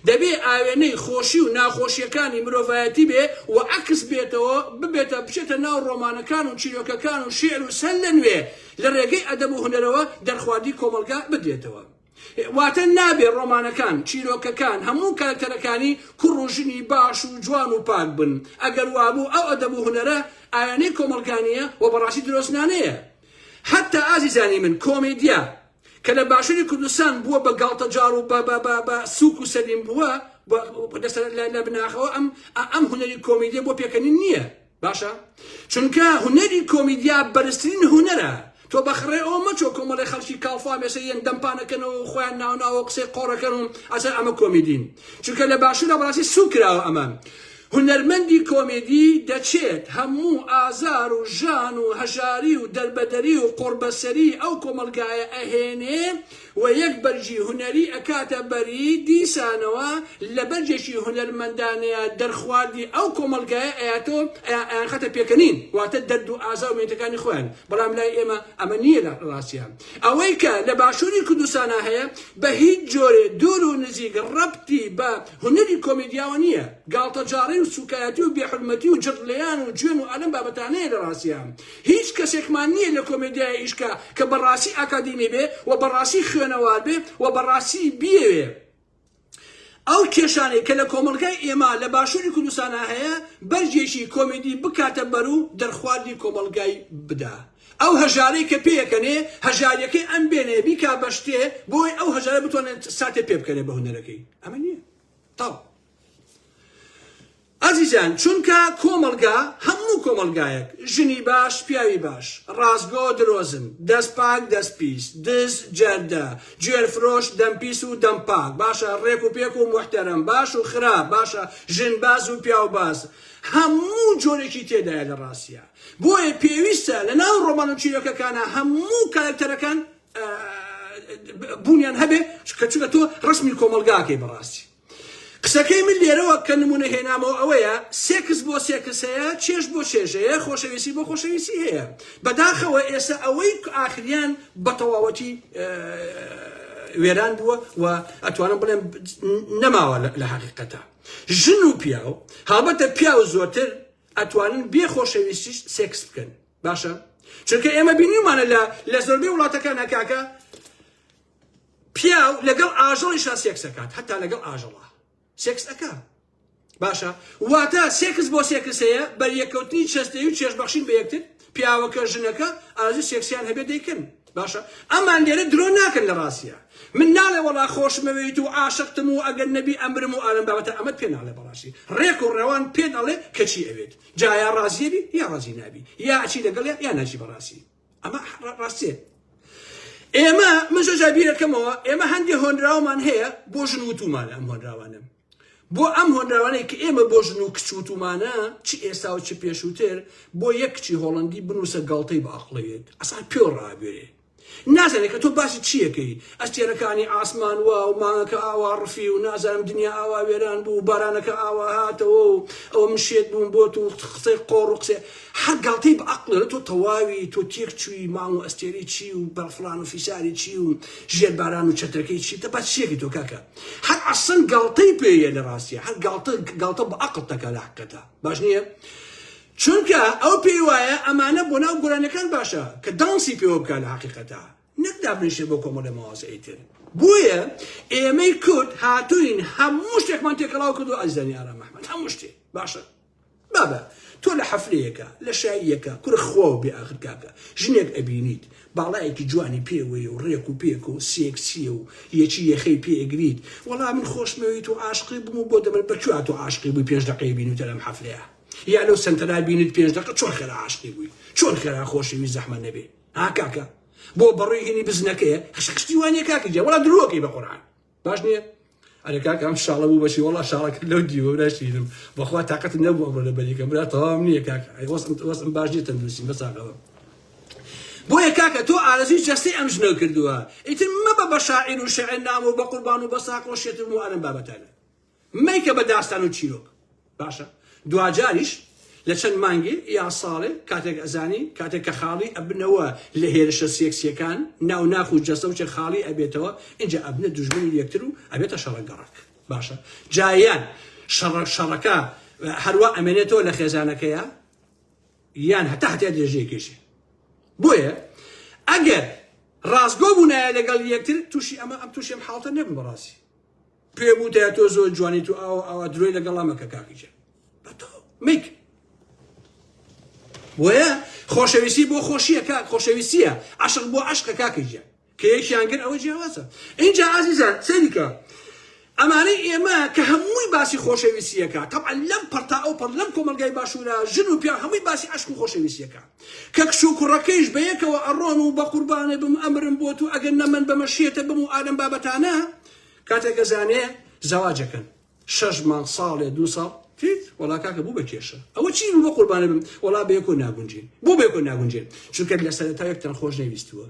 دەبێ ئاوێنەی خۆشی و ناخۆشیەکانی مرۆڤایەتی بێ و عەکس بێتەوە ببێتە بچێتە ناو ڕۆمانەکان و چیرۆکەکان و شیعر و سەر لەنوێ لە ڕێگەی ئەدەب و هونەرەوە دەرخواردی کۆمەڵگا بدرێتەوە واتە نابێ ڕۆمانەکان، چیرۆکەکان، هەموو کارەکتەرەکانی کوڕ و ژنی باش و جوان و پاک بن. ئەگەر وابوو ئەو ئەدەب و هونەرە ئایەنەی کۆمەڵگا نییە و بەڕاستی درۆزنانەیە. هەتا ئازیزانی من کۆمێدیا کە لە باشووری کوردستان بووە بە گاڵتەجاڕ و بە سووک و سەلیم بووە لە بناخەوە ئەم هونەری کۆمیدییە بۆ پێکەنین نییە. باشە چونکە هونەری کۆمیدیا بەرزترین هونەرە تۆ بەخڕێ ئەو مەچۆ کۆمەڵی خەڵکی کاڵفا مێسە یەن دەمپانەکەنەوە و خۆیان ناوناوە قسەی قۆڕەکەن و ئەسەر ئەمە کۆمیدین چونکە لە باشوورە بەڕاستی سوو کراوە ئەمە هونەرمەندی کۆمیدی دەچێت هەموو ئازار و ژان و هەژاری و دەربەدەری و قۆڕبەسەری ئەو کۆمەلگایە ئەهێنێ و یەک بەرگی هونەری ئەکاتە بەری، دیسانەوە لە بەرگێکی هونەرمەندانەیا دەرخواردی ئەو کۆمەڵگایە ئەیاتۆ ئەیان ئەیانخاتە پێکەنین واتە دەرد و ئازار و مینەتەکانی خۆیان بەڵام لای ئێمە ئەمە نیە لە ڕاستیا ئەوەی کە لە باشوری کوردستانا هەیە بە هیچ جۆرێ دوور و نزیک ڕەبتی بە هونەری کۆمێدیاوە نیە گاڵتەجاڕی و سوکایەتی و بێ حورمەتی و جڕ لێیان و جوێن و ئەلەم بابەتانەیە لە ڕاستیا هیچ کەسێکمان نیە لە کۆمێدیای ئیشکا کە بە ڕاستی ئاکادیمی بێ و بە ڕاستی خوێنەوار بێ و بە ڕاستی بیەوێ ئەو کێشانەی کە لە کۆمەڵگای ئێمە لە باشوری کوردستانا هەیە بەرگێکی کۆمێدی بکاتە بەر و دەرخواردی کۆمەڵگای بدا ئەو هەژارەی کە پێیەکەنێ هەژاریەکەی ئەم بێنێ بیکا بە شتێ بۆی ئەو هەژارە بتوانێت ساتێ پێ بکەنێ بە هونەرەکەی ئەمە نیە تاو. ئەزیزان چونکە کۆمەڵگا هەموو کۆمەڵگایەک ژنی باش پیاوی باش ڕاستگۆ درۆزن دەست پاک دەست پیس دز جەردە جوێر فرۆش دەم پیس و دەم پاک باشە ڕێک و پێک و محتەرم باش و خراپ باشە ژن باز و پیاو باز هەموو جۆرێکی تێدایە لە ڕاستە بۆیە پێویستە لە ناو ڕۆمان و چیرۆکەکانە هەموو کارکتەرەکان بوونیان هەبێ کە چونکە تۆ ڕسمی کۆمەلگاکەی بەڕاستی قسەکەی من لێرەوە کە نموونە هێنامەوە ئەوەیە، سێکس بۆ سێکس هەیە، چێژ بۆ چێژ هەیە، خۆشەویستی بۆ خۆشەویستی هەیە. بەداخەوە ئێستا ئەوەی ئاخریان بە تەواوەتی وێران بووە و ئەتوانم بڵێم نەماوە لە حەقیقەتە. ژن و پیاو، هەڵبەتە پیاو زۆرتر ئەتوانن بێ خۆشەویستیش سێکس بکەن. باشە؟ چونکە ئێمە بینیومانە لە لە زۆربەی وڵاتەکانە کاکە پیاو لەگەڵ ئاژەڵیشا سێکس ئەکات هەتا لەگەڵ ئاژەڵا سێکس ئەکا باشە واتە سێکس بۆ سێکسەیە بەریەکەوتنی چەستەی و چێشبەخشین بە یەکتر پیاوەکە ژنەکە ئازی سێکسیان هەبێت دەیکەن باشە ئەمان لێرە درۆ ناکەن لە ڕاستە من ناڵێ وەڵا خۆشمەوێیت و عاشقتم و ئەگەر نەبی ئەمرم و ئالم بابەتە ئەمەت پێ ناڵێ بەڕاستی ڕێک و ڕەوان پێ دەڵێ کەچی ئەوێت جایا ڕازیێبی یا ڕازی نابی یا ئەچی لەگەڵ یا ناچی بەڕاستی ئەمە ڕاستێ ئێمە من زۆر جار بیرەکەمەوە ئێمە هەندێک هۆنراومان هەیە بۆ ژن وتومان ئەم هۆنراوانە بۆ ئەم هۆنراوانەی کە ئێمە بۆ ژن و کچ وتومانە چ ئێستا و چ پێشووتر بۆ یەک کچی هۆڵندی بنووسە گەڵتەی باقلەوێت ئەسان پێ ڕابێرێ نازانێت کە تۆ باسی چیەکەی ئەستێرەکانی ئاسمان وا و مانگەکە ئاوا ڕفی و نازانم دنیا ئاوا وێران بوو بارانەکە ئاوا هاتەوە و ئەو من شێت بووم بۆ تو قسەی قۆڕ و قسێ هەر گاڵتەی بە عەقڵ ئەڵێ تۆ تەواوی تۆ تێک چووی ماڵ و ئەستێرەی چی و بە فڵان و فیساری چی و ژێر باران و چەترەکەی چی تە بە چیەکی تۆ کاکە هەر عەسڵەن گاڵتەی پێ یە لە ڕاستیە هەر گاڵتە گاڵتە بە عەقڵ تەکا لە حەقەتە باش نییە چونکە ئەو پێی وایە ئەمانە بۆ ناو گۆرانیەکان باشە کە دانسی پێوە بکە لە حقیقەتە نەک دابنیشێ بۆ کۆمەڵێ مەوازە ئیتر بۆیە ئێمەی کورد هاتوین هەموو شتێکمان تێکەڵاو کردو ئەزیزانی ئارام ئەحمەد هەموو شتێ باشە بابە تۆ لە حەفلەیەکە لە شاییەکە کورە خواو بێ ئاخر کاکە ژنێک ئەبینیت باڵایەکی جوانی پێوەیە و ڕێک و پێک و سێکسیە و یەکی یەخەی پێ ئەگریت وەڵا من خۆشمەوێیت و عاشقی بووم و بۆ دەمر بە کوێ تۆ عاشقی بووی پێنج دەقەی بینیوتە لەم حەفلەیە یا لەو سەنتەرا بینیت پێنج دەقە چۆن خێرا عاشقی بووی چۆن خێرا خۆشەوی زەحمە نەبێ ها کاکە بۆ بەڕووی هینی بزنەکەیە خشخشتی وانە کاکە جا وەڵا درۆکەی بە قورعان باش نییە ئەرێ کاکە ئەم شاڵە بوو بەشی وڵا شاڵەکە لەو دیوە ناشیرم بەخوا تااقەت نەبوو ئەمڕۆ لە بەریکەم برا تەواو نییە کاکە وەسم باش نیە تەندروستی مەساقەوە بۆیە کاکە تۆ ئارزوی جەستەی ئەم ژنە کردووە ئیتر مەبە بە شاعیر و شعر نام و بە قوربان و بە ساقۆ شێتر و ئەرم بابەتانە مەیکە بە داستان و چیرۆک باشە دواجاریش لە چەند مانگێ یا ساڵێ کاتێک ئەزانی کاتێک کە خاڵی ئەبنەوە لە هێرشە سێکسیەکان ناو ناخ و جەستە و چێ خاڵی ئەبێتەوە ئینجا ئەبنە دوژمنی یەکتر و ئەبێتە شەڕە گەڕەک باشە جایان شەڕە شەڕەکە هەروا ئەمێنێتەوە لە خێزانەکەیە یان هەتا هەتیا درێژەیە کێشێ بۆیە ئەگەر ڕاستگۆ بوونایە لەگەڵ یەکتر تووشی ئەمە ئەم تووشێم حاڵتە نەبوو بەڕاستی پێم وتایە تۆ زۆر جوانیت و ئاوا ئاوا درۆی لەگەڵا مەکە کاکی جان بە تۆ میک بۆیە خۆشەویستی بۆ خۆشیە کاک خۆشەویستیە عشق بۆ عشقە کاکی جان کە یەکیان گر ئەوە جیاوازە اینجا ئازیزان سەریکە ئەمانەی ئێمە کە هەمووی باسی خۆشەویستیەکە تەعا لەم پڕتا ئەو پڕ لەم کۆمەلگای باشوورە ژن و پیا هەمووی باسی عشق و خۆشەویستیەکە کە کچ و کوڕەکەیش بە یەکەوە ئەڕۆن و بە قوربانێ بم ئەمرم بۆ تو ئەگەر نەمن بەمە شێتە بم و ئادەم بابەتانە کاتێک ئەزانێ زەواج ئەکەن. شەش مانگ ساڵێ دوو ساڵ تیت وەڵا کاکە بوو بە کێشە ئەوە چی بوو بە قوربانە بم وەڵا بە یەکۆ ناگونجێن بۆ بە یەکۆ ناگونجێن چونکە لە سەرەتا یەکتان خۆش نەویستووە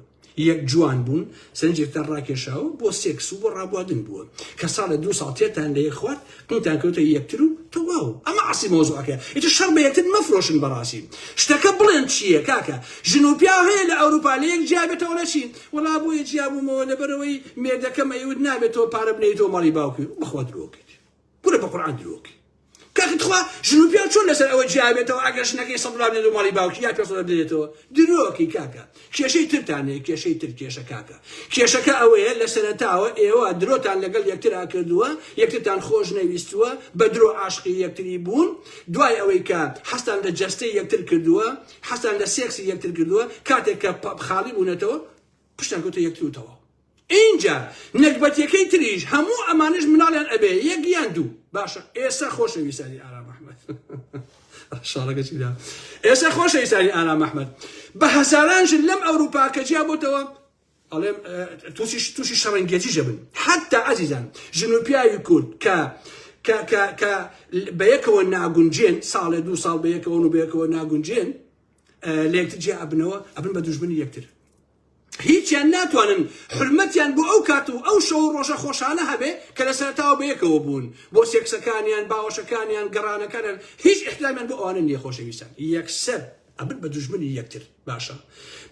یەک جوان بوون سەرنجێکتان ڕاکێشاوە بۆ سێکس و بۆ ڕابواردن بووە کە ساڵە دوو ساڵ تێتان لە یەک خوارد دوتان کەوتە یەکتر و تەواو ئەمە ئەسڵی مەوزوعەکەیە ئیتر شەڕ بە یەکتر مەفرۆشن بەڕاستی شتەکە بڵێن چییە کاکە ژن و پیاو هەیە لە ئەوروپا لە یەک جیا بێتەوە لە چی وەڵا بۆیە جیا بوومەوە لەبەرەوەی مێردەکەم ئەیوت نابێت تۆ پارە بنێیتەوە ماڵی باوکی بەخوا درۆکەیت کورە بە قورئان درۆکەی کاکە تخوا ژن و پیاو چۆن لەسەر ئەوە جیا بێتەوە ئەگەر ژنەکەی سەد دلار بدێت و ماڵی باوکی یا پێ سەد دلار بدێتەوە درۆکەی کاکە کێشەی ترتان هەیە کێشەی تر کێشە کاکە کێشەکە ئەوەیە لەسەرەتاوە ئێوە درۆتان لەگەڵ یەکترا کردووە یەکترتان خۆش نەویستووە بەدرۆ عاشقی یەکتری بوون دوای ئەوەی کە حەزتان لە جەستەی یەکتر کردووە حەزتان لە سێکسی یەکتر کردووە کاتێک کە خاڵی بوونەتەوە پشتان کەوتە یەکتر و تەواو. ئینجا نەگبەتیەکەی تریش هەموو ئەمانەش مناڵیان ئەبێ یەک یان دوو باشە ئێسا خۆشەویسانی ئارام ئەحمەد شاڵەکەچی دا ئێسا خۆشەویسانی ئارام ئەحمەد بە هەزاران ژن لەم ئەوروپا کە جیا بۆتەوە ئەڵێم تووشی تووشی شەڕەنگێتی ژەبن حتا ئازیزان ژن و پیاوی کورد کە کە بە یەکەوە ناگونجێن ساڵێ دوو ساڵ بە یەکەوەن و بەیەکەوە ناگونجێن لەکتر جیا ئەبنەوە ئەبن بە دوژمنی یەکتر هیچیان ناتوانن حورمەتیان بۆ ئەو کات و ئەو شەو و ڕۆژە خۆشانە هەبێ کە لە سەرەتاوە بەیەکەوە بوون، بۆ سێکسەکانیان، باوەشەکانیان، گەڕانەکانیان، هیچ ئیحترامیان بۆ ئەوانە نیە خۆشەویستان یەکسەر ئەبن بە دوژمنی یەکتر باشە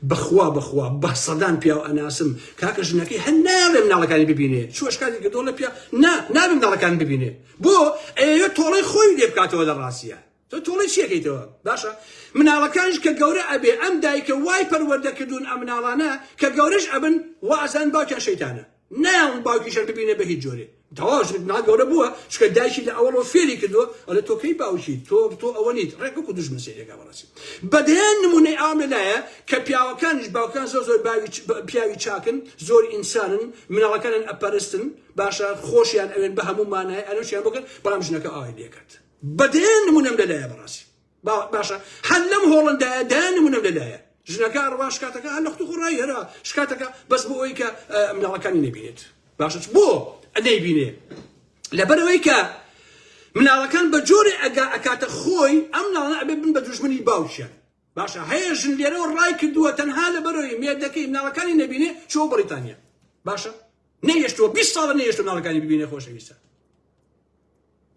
بەخوا بەخوا بە سەدان پیاو ئەناسم کاکە ژنەکەی هەن نایەڵێ مناڵەکانی ببینێ چوە شکاتی کردوە لە پیا نا نابێ مناڵەکان ببینێ بۆ ئەیەوێ تۆڵەی خۆی لێ بکاتەوە لە ڕاستیا تۆ توڵەی چی ئەکەیتەوە باشە مناڵەکانش کە گەورە ئەبێ ئەم دایکە وای پەروەردە کردوون ئەم مناڵانە کە گەورەش ئەبن وا ئەزان باوکیان شەیتانە نایان باوکیشان ببینە بە هیچ جۆرێ تەواش مناڵ گەورە بووە چکە دایکی لە ئەوڵۆ فێری کردووە ئەلە تۆ کەی باوکی تۆ تۆ ئەوە نیت ڕێکوەک و دژمن سێرێکا بەڕاستی بەدەیان نمونەی ئام لەلایە کە پیاوەکانیش باوکان زۆر زۆر باوی پیاوی چاکن زۆر ئینسانن مناڵەکانن ئەپەرستن باشە خۆشیان ئەوێن بە هەموو مانای ئەلەشیان بکەن بەڵام ژنەکە ئاوای لێکرد بە دەیان نمونەم لە لایە بەڕاستی با باشە هەر لەم هۆڵندایە دەیان نمونەم لە لایە ژنەکە ڕوا شکاتەکە هەر لە خت خۆڕایی هەرا شکاتەکە بەس بۆ ئەوی کە مناڵەکانی نبینێت باشە بۆ ئەدەی بینێ لەبەرەوەی کە مناڵەکان بە جۆرێ ئەگا ئەکاتە خۆی ئەم ناڵە ئەبێ بن بە دژمنی باوکیان باشە هەیە ژن لێرەوە ڕای کردووە تەنها لە بەرەوەی مێردەکەی مناڵەکانی نبینێ چۆ بەریتانیا باشە نەیشتوە 20 ساڵە نەیشتو مناڵەکانی ببینێ خۆشەویستە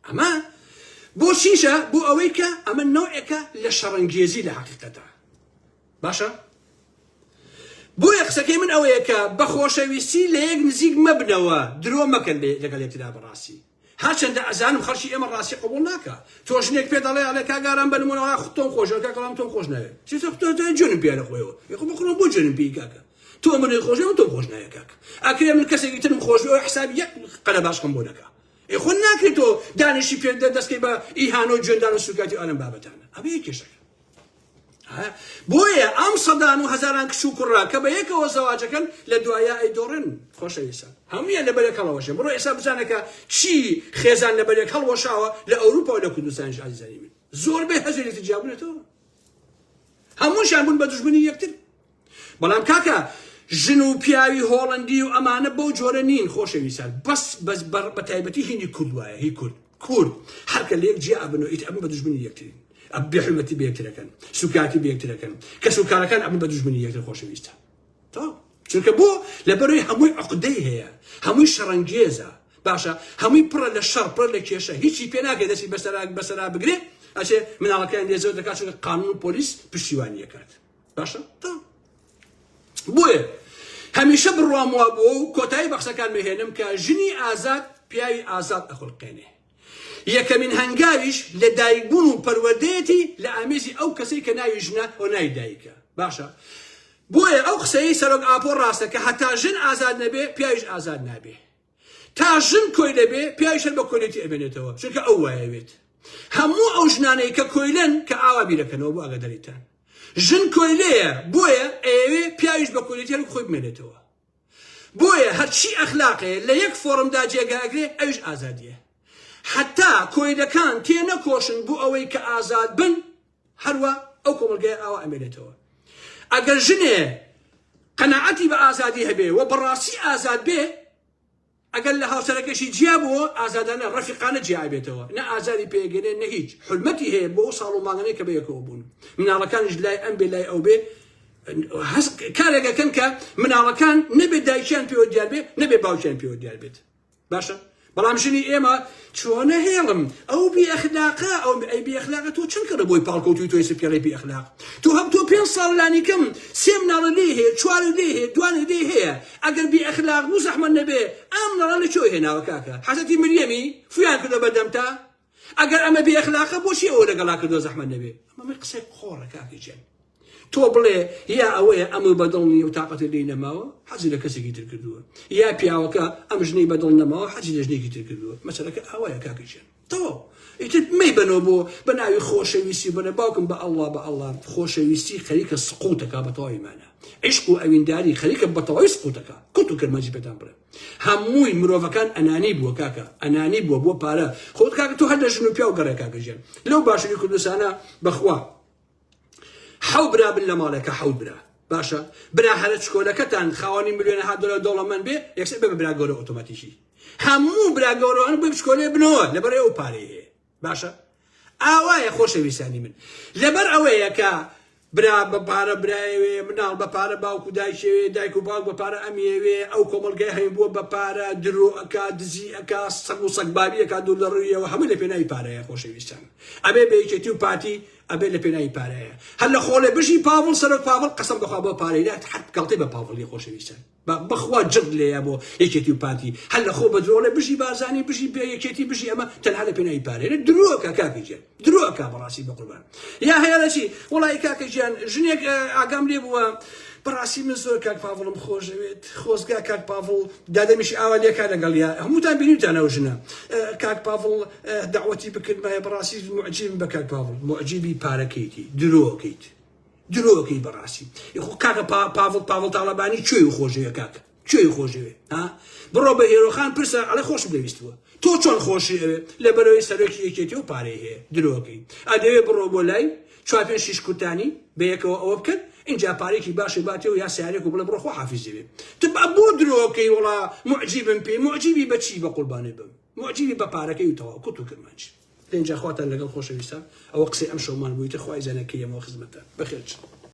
ئەمە بۆ چیشە بۆ ئەوەی کە ئەمە نەوعێکە لە شەڕەنگێزی لە حقیقەتە باشە بۆیە قسەکەی من ئەوەیە کە بە خۆشەویستی لە یەک نزیک مەبنەوە درۆ مەکەن بێ لەگەڵ یەکترا بەڕاستی هەرچەندە ئەزانم خەڵکی ئێمە ڕاستی قبول ناکە تۆ ژنێک پێ دەڵێ ئەڵێ کاگاران بەنمونەوە خۆتۆم خۆشەکە کەڵام تۆم خۆش ناوێت چی تۆ تۆ جونم پێ لە خۆیەوە یخۆ بخۆم بۆ جونم پێی کاکە تۆ منی خۆشەوە تۆ خۆش ناوێت کاکە ئەکرێ من کەسێکی ترم خۆش بۆ حساب یەک قەرە باشکەم بۆ دەکە ئێ خۆ ناکرێ تۆ دانیشی پێ دەستکەی بە ئیهانە و جوێندان و سوکایەتی ئەلەم بابەتانە ئەمە یە کێشەکە بۆیە ئەم سەدان و هەزاران کچ و کوڕا کە بە یەکەوە زەواجەکەن لە دوایە ئەی دۆڕن خۆشە ئێسا هەمویان لە بەرێک هەڵەوەشێ بڕۆ ئێسا بزانەکە چی خێزان لە بەرێک هەڵوەشاوە لە ئەوروپا و لە کوردستانیش ئازیزانی من زۆر بێ هەزێتی جیابونێتەوە هەمووشان بوون بە دژبنی یەکتر بەڵام کاکە ژن و پیاوی هۆڵەندی و ئەمانە بەو جۆرە نین خۆشەویستان بەس بەس بەڕ بە تایبەتی هینی کورد وایە هی کورد کورد هەرکە لە یەک جیا ئەبن و ئیتر ئەبن بە دوژمنی یەکترین ئەب بێحورمەتی بە یەکترەکەن سوکایەتی بە یەکترەکەن کەس و کارەکان ئەبن بە دوژمنی یەکتر خۆشەویستە تەواو چونکە بۆ لەبەروی هەمووی عقدەی هەیە هەمووی شەڕەنگێزە باشە هەمووی پڕە لە شەڕ پڕە لە کێشە هیچی پێ ناکرێت دەستی بەسەرا بەسەرا بگرێت ئەچێ مناڵەکەیان لێ زۆر دەکات چونکە قانون و پۆلیس پشتیوانی یەکات باشە بۆیە هەمیشە بڕوام وا بووە و کۆتایی بەخشەکان مهێنم کە ژنی ئازاد پیاوی ئازاد ئەخلقێنێ یەکەمین هەنگاویش لە دایکبوون و پەروەردەیەتی لە ئامێزی ئەو کەسەی کە ناوی ژنە و ناوی دایکە باشە بۆیە ئەو قسەی سەرۆک ئاپۆ ڕاستە کە هەتا ژن ئازاد نەبێ پیاویش ئازاد نابێ تا ژن کۆیلە بێ پیاویش هەر بە کۆیلەتی ئەمێنێتەوە چونکە ئەو وایەوێت هەموو ئەو ژنانەی کە کۆیلەن کە ئاوا بیرەکەنەوە بۆ ئاگاداریتان ژن کۆیلەیە بۆیە ئەیەوێ پیاویش بە کۆیلەتی هەر خۆی بمێنێتەوە بۆیە هەرچی ئەخلاقێ لە یەک فۆرمدا جێگاگرێ ئەوش ئازادیە حتا کۆیلەکان تێ نەکۆشن بۆ ئەوەی کە ئازاد بن هەروا ئەو کۆمەڵگەیە ئاوا ئەمێنێتەوە ئەگەر ژنێ قەناعەتی بە ئازادی هەبێ و بەڕاستی ئازاد بێ ئەگەر لە هاوسەرەکەشی جیا بووە ئازادانە ڕەفیقانە جیابێتەوە نە ئازاری پێگەێ نە هیچ حلمەتی هەیە بۆ ساڵ و ماگەنەی کە بەیەکەوە بوون مناڵەکانش لای ئەم بێ لای ئەو بێ کارێکەکەن کە مناڵەکان نەبێت دایکیان پێوە دیار بێت نەبێ باوکیان پێوە دیار بێت باشە بەڵام ژنی ئێمە چۆنە هێڵم ئەو بێخلاقە ئەو ئەی بێخلاقە تۆ چون کەڕە بۆی پاڵکەوتوی تۆی سپێڵی بێخلاق تو هەم تۆ پێ ساڵ لانیکەم سێ مناڵە لێ هەیە چوار لێ هەیە دوان لێ هەیە ئەگەر بێ ئەخلاق بوو زەحمە نەبێ ئەم نەڵە لە چۆی هێناوە کاکە حەزەتی مریەمی فیان کردە بەردەمتا ئەگەر ئەمە بێ ئەخلاقە بۆچی ئەوە لەگەڵا کردو زەحمەت نەبێ ئەمە قسەی قۆڕە کاکی جەن تۆ بڵێ یا ئەوەیە ئەمە بەدڵ نیە و تااقەتی لی نەماوە حەزی لە کەسێکی تر کردووە یا پیاوەکە ئەم ژنەی بەدڵ نەماوە حەزی لە ژنێکی تر کردووە مەسەلەکە ئاوایە کاکی جەن تەواو ئیتر مەی بنەوە بۆ بە ناوی خۆشەویستی بنە باوکم بە ئەلله بە ئەلله خۆشەویستی خەریکە سقوتەکە بە تەواوی مانە عیشق و ئەوینداری خەریکە بە تەواوی سقوتەکە کوت و کرمەجی پێتان بڵێ هەمووی مرۆڤەکان ئەنانی بووە کاکە ئەنانی بووە بۆ پارە خۆت کاکە تۆ هەر لە ژن و پیاو گەڕێ کاکە ژیان لەو باشووری کوردستانە بەخوا حەو برا بن لە ماڵێکە حەوت برا باشە برا هەرە چکۆلەکەتان خاوەنی ملیۆنە ها دۆلار دەوڵەمەند بێ یەکسەر بێ بە برا گەورە ئۆتۆماتیکی هەموو برا گەورەوان بێ بچکۆلێ بنەوە لەبەر ئەو پارەیە باشە ئاوایە خۆشەویستانی من لەبەر ئەوەیە کە برا بە پارە برایەوێ مناڵ بە پارە باوکو دایشەوێ دایک و باوک بە پارە ئەمیەوێ ئەو کۆمەلگای هەین بووە بە پارە درۆ ئەک دزی ئەک سەگ و سەگبابی ئەک دوور لە ڕوویەوە هەموو لە پێناوی پارەیە خۆشەویستان ئەبێ بەیکێتی و پارتی ئەبێ لە پێناوی پارەیە هەر لە خۆڵێ بژی پاڤڵ سەرۆک پاڤڵ قەسم بەخوا بۆ پارەی نات حەت گەڵتی بە پاڤڵی خۆشەویستان با بەخوا جڕت لێیە بۆ یەکێتی و پارتی هەر لە خۆو بە درۆ ئەڵێ بژی بارزانی بژی بێ یەکێتی بژی ئەمە تەنها لە پێناوی پارەیە لە درۆ کە کاکە گیان درۆ کا بەڕاستی بە قوربان یا هەیە لە چی وڵی کاکە گیان ژنێک ئاگام لێ بووە بەڕاستی من زۆر کاک پاڤڵم خۆشەوێت خۆزگا کاک پاڤڵ دادەمیش ئاوا لێکا لەگەڵ یا هەمووتان بینیتانە و ژنە کاک پاڤڵ داوەتی بکردمایە بەڕاستی معجیبم بە کاک پاڤڵ معجیبی پارەکەیتی درۆکەیت درۆکەی بەڕاستی یخۆ کاکە پاڤڵ پاڤڵ تاڵەبانی کوێی خۆشەوێ کاکە کوێی خۆشەوێ ها بڕۆ بە هێرۆخان پرسە ئەڵێ خۆشم دەویستوە تۆ چۆن خۆشی ئەوێ لە بەرەوەی سەرۆکی یەکێتی و پارەی هەیە درۆکەی ئەدەوێ بڕۆ بۆ لای چوار پێنج شیش کورتانی بەیەکەوە ئەوە بکەن اینجا پارێکی باشی باتێ و یا سیارێک و بڵێ بڕۆ خۆ حافیزەوێ تب بۆ درۆکەی وڵا معجیبم پێی معجیبی بەچی بە قوربانێ بم موعجیبی بە پارەکەی و تەواو کوت و کرمانج. ئینجا خواتان لەگەڵ خۆشەویستان ئەوە قسەی ئەمشەومان بویتە خوای زانە کەی ئەمەوە خزمەتە بەخێرچن.